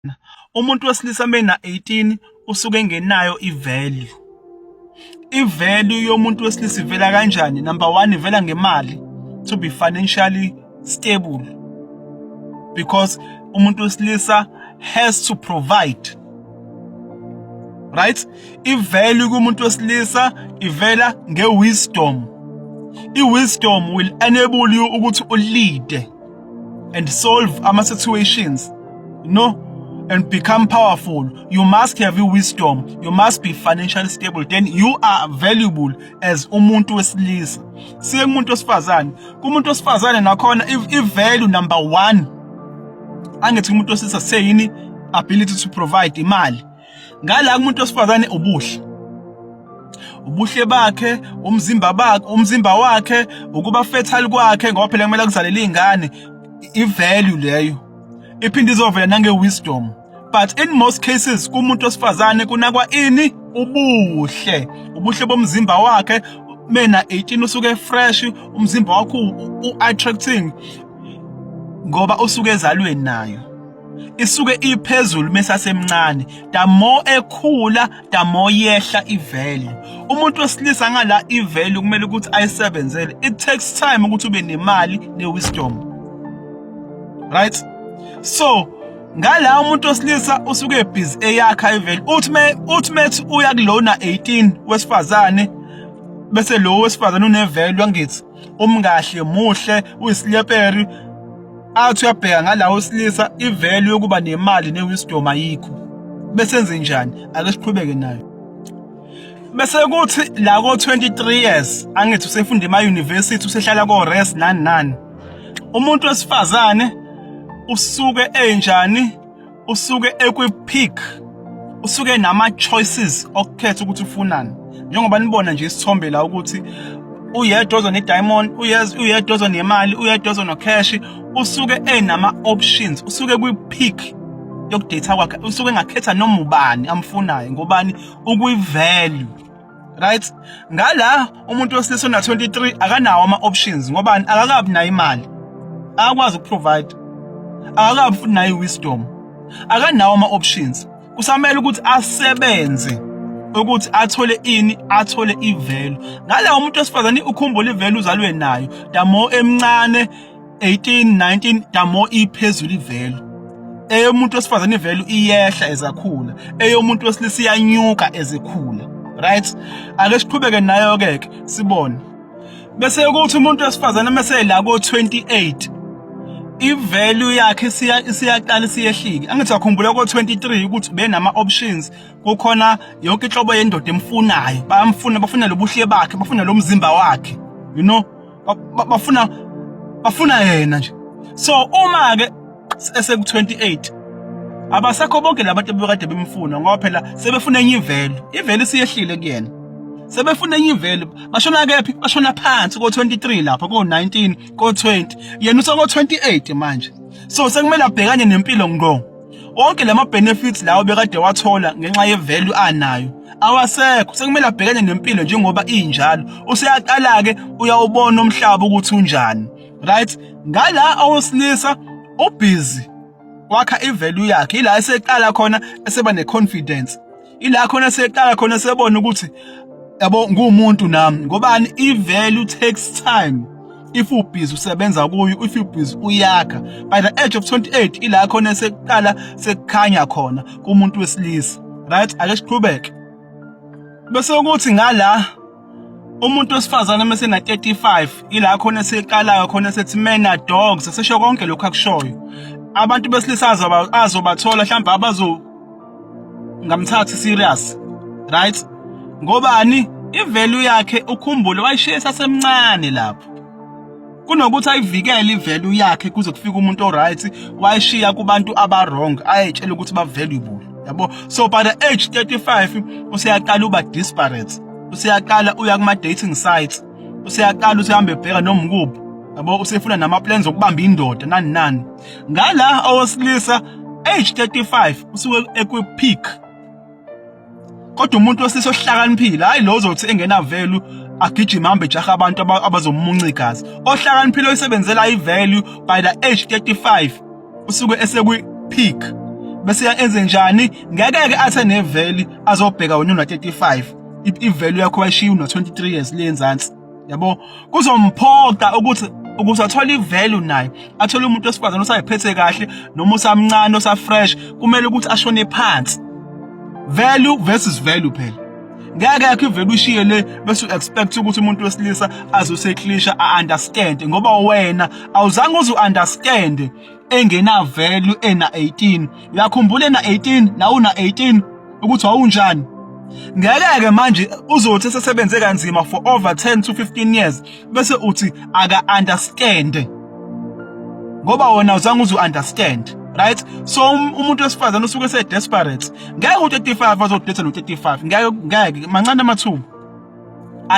lona umuntu wesilisa mena 18 usuke engenayo ivalue ivalue yomuntu wesilisa ivela kanjani number 1 ivela ngemali to be financially stable because umuntu wesilisa has to provide right ivalue kumuntu wesilisa ivela ngewisdom iwisdom will enable you ukuthi ulead and solve ama situations you know and become powerful you must have your wisdom you must be financially stable then you are valuable as umuntu wesilisa siye kumuntu wesifazane kumuntu wesifazane nakhona i value number 1 angithi umuntu wesilisa seyini ability to provide imali ngala kumuntu osifazane ubuhle ubuhle bakhe umzimba bakhe umzimba wakhe ukuba fertile kwakhe ngoba phela kumele kuzalele izingane ivalue leyo iphinde izovela nange wisdom but in most cases kumuntu osifazane kunakwa ini ubuhle ubuhle bomzimba wakhe mena 18 usuke fresh umzimba wakho u-attracting ngoba usuke ezalweni nayo isuke iphezulu mesasemncane the more ekhula the more yehla ivalue umuntu wesilisa ngala ivalue kumele ukuthi ayisebenzele it takes time ukuthi ube nemali newisdom right so ngala umuntu wesilisa usuke ebhizi eyakha ivalue uthi me uthi methi uya kulona 18 wesifazane bese lo wesifazane unevalue ngithi umkahle muhle uyisileperi athi uyabheka ngalawo silisa ivalue yokuba nemali newisdom ayikho bese enze njani ake siqhubeke nayo bese kuthi la ko 23 years angithi usefunda ema university usehlala ko rest nani nani umuntu wesifazane usuke enjani usuke ekwi-peak usuke nama-choices okukhetha ukuthi ufunani njengoba nibona nje isithombe la ukuthi uyedwa ozo ne-diamond uyedwa ozo nemali uyedwa ozo no-cash usuke enama-options usuke kwi-peak yokudata kwakhe usuke engakhetha noma ubani amfunayo ngobani ukwi-value right ngala umuntu wesilisa ona 23 akanawo ama options ngoba akakabi nayo imali akakwazi ukuprovide akakabi futhi nayo wisdom akanawo ama options kusamele ukuthi asebenze ukuthi athole ini athole ivelu ngala umuntu wesifazane ukhumbula ivelu uzalwe nayo damo emncane 18 19 damo iphezulu ivelu eyomuntu wesifazane ivelu iyehla ezakhula eyomuntu wesilisa iyanyuka ezekhula right ake siqhubeke nayo ke ke sibone bese ukuthi umuntu wesifazane mase la ko 28 ivalue yakhe siya siyaqala siyehlike angithi akhumbula ko 23 ukuthi benama options kukhona yonke inhlobo yendoda emfunayo bayamfuna bafuna lobuhle bakhe bafuna lomzimba wakhe you know bafuna bafuna yena nje so uma ke eseku 28 abasekho bonke labantu bebekade bemfuna ngoba phela sebefuna enye ivelo ivelo isiyehlile kuyena sebefuna enye ivelo bashona kephi bashona phansi ko 23 lapha ko 19 ko 20 yena uso ko 28 manje so sekumele abhekane nempilo ngqo Onke lama benefits lawo bekade wathola ngenxa ye value anayo awasekho sekumele abhekane nempilo njengoba injalo useyaqala ke uyawubona umhlaba ukuthi unjani right ngala awosilisa ubhizi wakha ivalue yakhe ila eseqala khona eseba neconfidence ila khona seqala khona sebona ukuthi yabo ngumuntu nami ngobani i value takes time if you busy usebenza kuyo if you busy uyakha by the age of 28 ila khona sekuqala sekukhanya khona kumuntu wesilisa right ake siqhubeke bese ukuthi ngala umuntu wesifazane uma sena 35 ila khona seqalayo khona sethi mena dogs sesho konke lokho akushoyo abantu besilisa azobathola mhlawumbe abazo ngamthathi serious right ngobani ivalue yakhe ukhumbule wayishiya sasemncane lapho kunokuthi ayivikele ivalue yakhe kuze kufike umuntu oright wayishiya kubantu abawrong ayetshela ukuthi bavaluable yabo so by the age 35 useyaqala uba disparate useyaqala uya kuma dating sites useyaqala usehambe ebheka noma ukuphi yabo usefuna nama plans okubamba indoda nani nani ngala owesilisa age 35 usuke ekwi peak kodwa umuntu wesisi ohlakaniphile hayi lo uzothi engena value agijima hambe jaha abantu abazomunca igazi ohlakaniphile oyisebenzela ivalue by the age 35 usuke esekwi peak bese enze njani ngeke ke athe ne value azobheka wena una 35 i value yakho wayishiya una 23 years le enzansi yabo kuzomphoqa ukuthi ukuze athole ivalue naye athole umuntu wesifazane osayiphethe kahle noma osamncane osafresh kumele ukuthi ashone phansi value versus value phela ngeke yakho ivele ushiye le bese expect ukuthi umuntu wesilisa azoseklisha a understand ngoba wena awuzange uzu understand engena value ena 18 uyakhumbula ena 18 nawu na 18 ukuthi wawunjani ngeke ke manje uzothi sesebenze kanzima for over 10 to 15 years bese uthi aka understand ngoba wona uzange uzu understand right so um, umuntu wesifazane usuke se desperate ngeke u35 azodetha no 35 ngeke ngeke mancane amathuba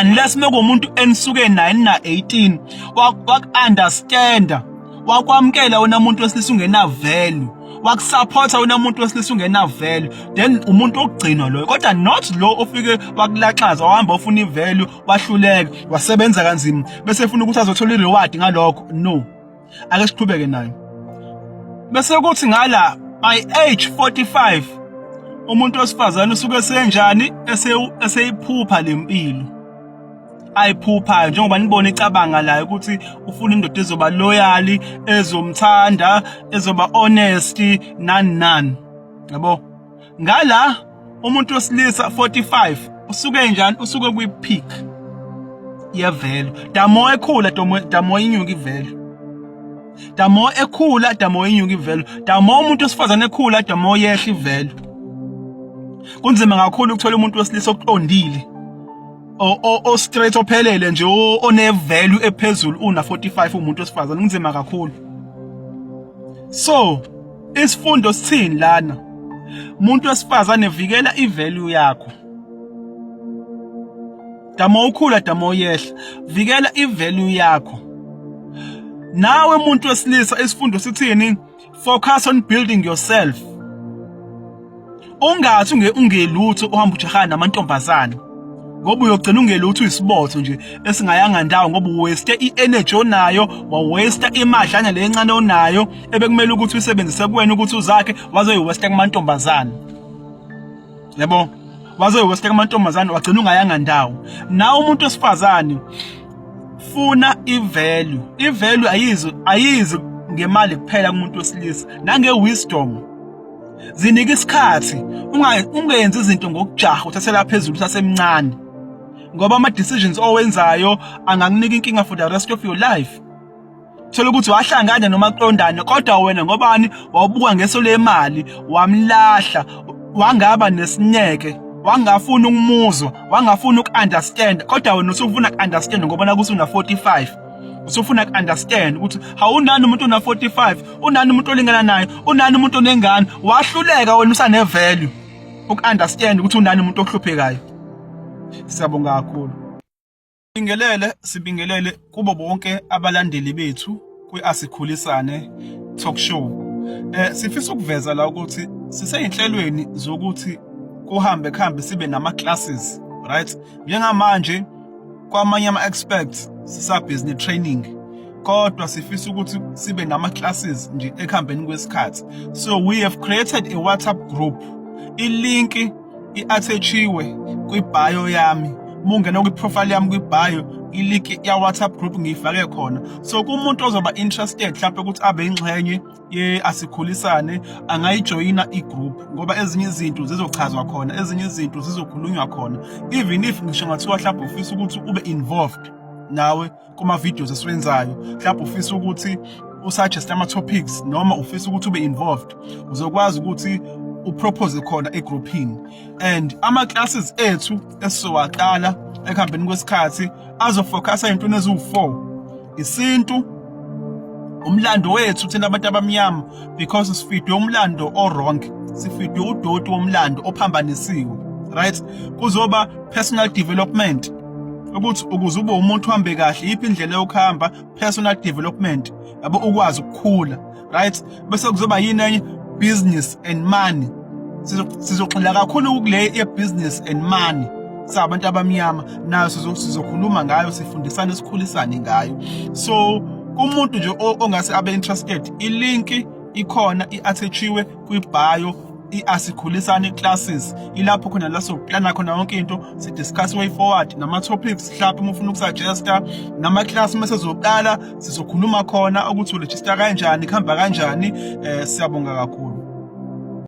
unless mekumuntu enisuke naye na 18 wakunderstanda wakwamkela wena muntu wesilisa ungena value wakusupporta wena muntu wesilisa ungena value then umuntu ogcinwa loyo kodwa not lo ofike wakulaxaza wahamba ufuna ivalue wahluleka wasebenza kanzima bese efuna ukuthi azothola ireward ngalokho no ake siqhubeke nayo bese kuthi ngala by age 45 umuntu wesifazane usuke senjani eseyiphupha lempilo ayiphuphayo njengoba nibona icabanga layo ukuthi ufuna indoda ezoba loyal ezomthanda ezoba honest nani nani yabo ngala umuntu wesilisa 45 usuke njani usuke kwi peak yevelo damo ekhula damo damo inyuka ivelo damo ekhula damo inyuka ivelo damo umuntu osifazane ekhula damo yehla ivelo kunzima kakhulu ukuthola umuntu wesilisa oqondile o o straight ophelele nje one value ephezulu una 45 umuntu osifazane kunzima kakhulu so Isifundo sithini lana? Umuntu wesifazane vikela ivalue yakho. Dama ukhula dama uyehla. Vikela ivalue yakho. Nawe umuntu wesilisa isifundo sithini? Focus on building yourself. ungathi unge ungelutho uhamba ujahana namantombazana ngoba uyogcina ungelutho uyisibotho nje esingayanga ndawo ngoba uwaste i-energy onayo wawaste imadlana le encane onayo ebekumele ukuthi uyisebenzise kuwena ukuthi uzakhe wazoyiwaste kumantombazana yabo wazoyiwaste kumantombazana wagcina ungayanga ndawo nawe umuntu wesifazane funa ivalue ivalue ayizi ayizi ngemali kuphela kumuntu wesilisa nange wisdom zinike isikhathi ungenzi izinto ngokujaha uthathela phezulu usasemncane ngoba ama decisions owenzayo angakunika inkinga for the rest of your life thola ukuthi wahlangana noma qondane kodwa wena ngobani wawubuka ngeso lemali wamlahla wangaba nesineke wangafuni ukumuzwa wangafuni uku-understand kodwa wena usufuna ku-understand ngoba nakuthi una-45 usufuna ku understand ukuthi hawunani umuntu ona 45 unani umuntu olingana naye unani umuntu onengane wahluleka wena usane value uku understand ukuthi unani umuntu ohluphekayo siyabonga kakhulu Bingelele sibingelele kubo bonke abalandeli bethu kwiasikhulisane talk show eh sifisa ukuveza la ukuthi siseyinhlelweni zokuthi kuhambe kuhambe sibe nama classes right njengamanje kwamanye ama-experts sisabhizi ne-training kodwa sifisa ukuthi sibe nama-classes nje ekuhambeni kwesikhathi so we have created a whatsapp group ilinki i-athechiwe kwibhayo yami mungena kwiprofile yami kwibhayo iliki ya-whatsapp group ngiyifake khona so kumuntu ozoba interested mhlawumpe ukuthi abe ingxenye ye asikhulisane angayijoyina igroup ngoba ezinye izinto zizochazwa khona ezinye izinto zizokhulunywa khona even if ngisho ngathiwa mhlawumbe ufisa ukuthi ube involved nawe kuma videos esiwenzayo mhlawumbe ufisa ukuthi usuggest ama topics noma ufisa ukuthi ube involved uzokwazi ukuthi upropose khona egroupini and ama classes ethu esizowaqala ekuhambeni kwesikhathi azofocusa into neziwu4 isintu umlando wethu thina abantu abamnyama because sifidwe umlando o-wrong sifidwe udoti womlando ophambanisiwe right kuzoba personal development ukuthi ukuze ube umuntu uhambe kahle yiphi indlela yokuhamba personal development yabo ukwazi ukukhula right bese kuzoba yini enye business and money sizogxila kakhulu kule ye-business and money sabantu abamnyama nayo sizokhuluma ngayo sifundisane sikhulisane ngayo so kumuntu nje ongase abe interested ilinki ikhona i-athachiwe kwi-bio i-asikhulisane classes ilapho khona la sokuplana khona yonke into sidiscuss way forward nama-topics mhlawumbe uma ufuna ukusuggesta nama-class uma sezoqala sizokhuluma khona ukuthi uregista kanjani kuhamba kanjani um siyabonga kakhulu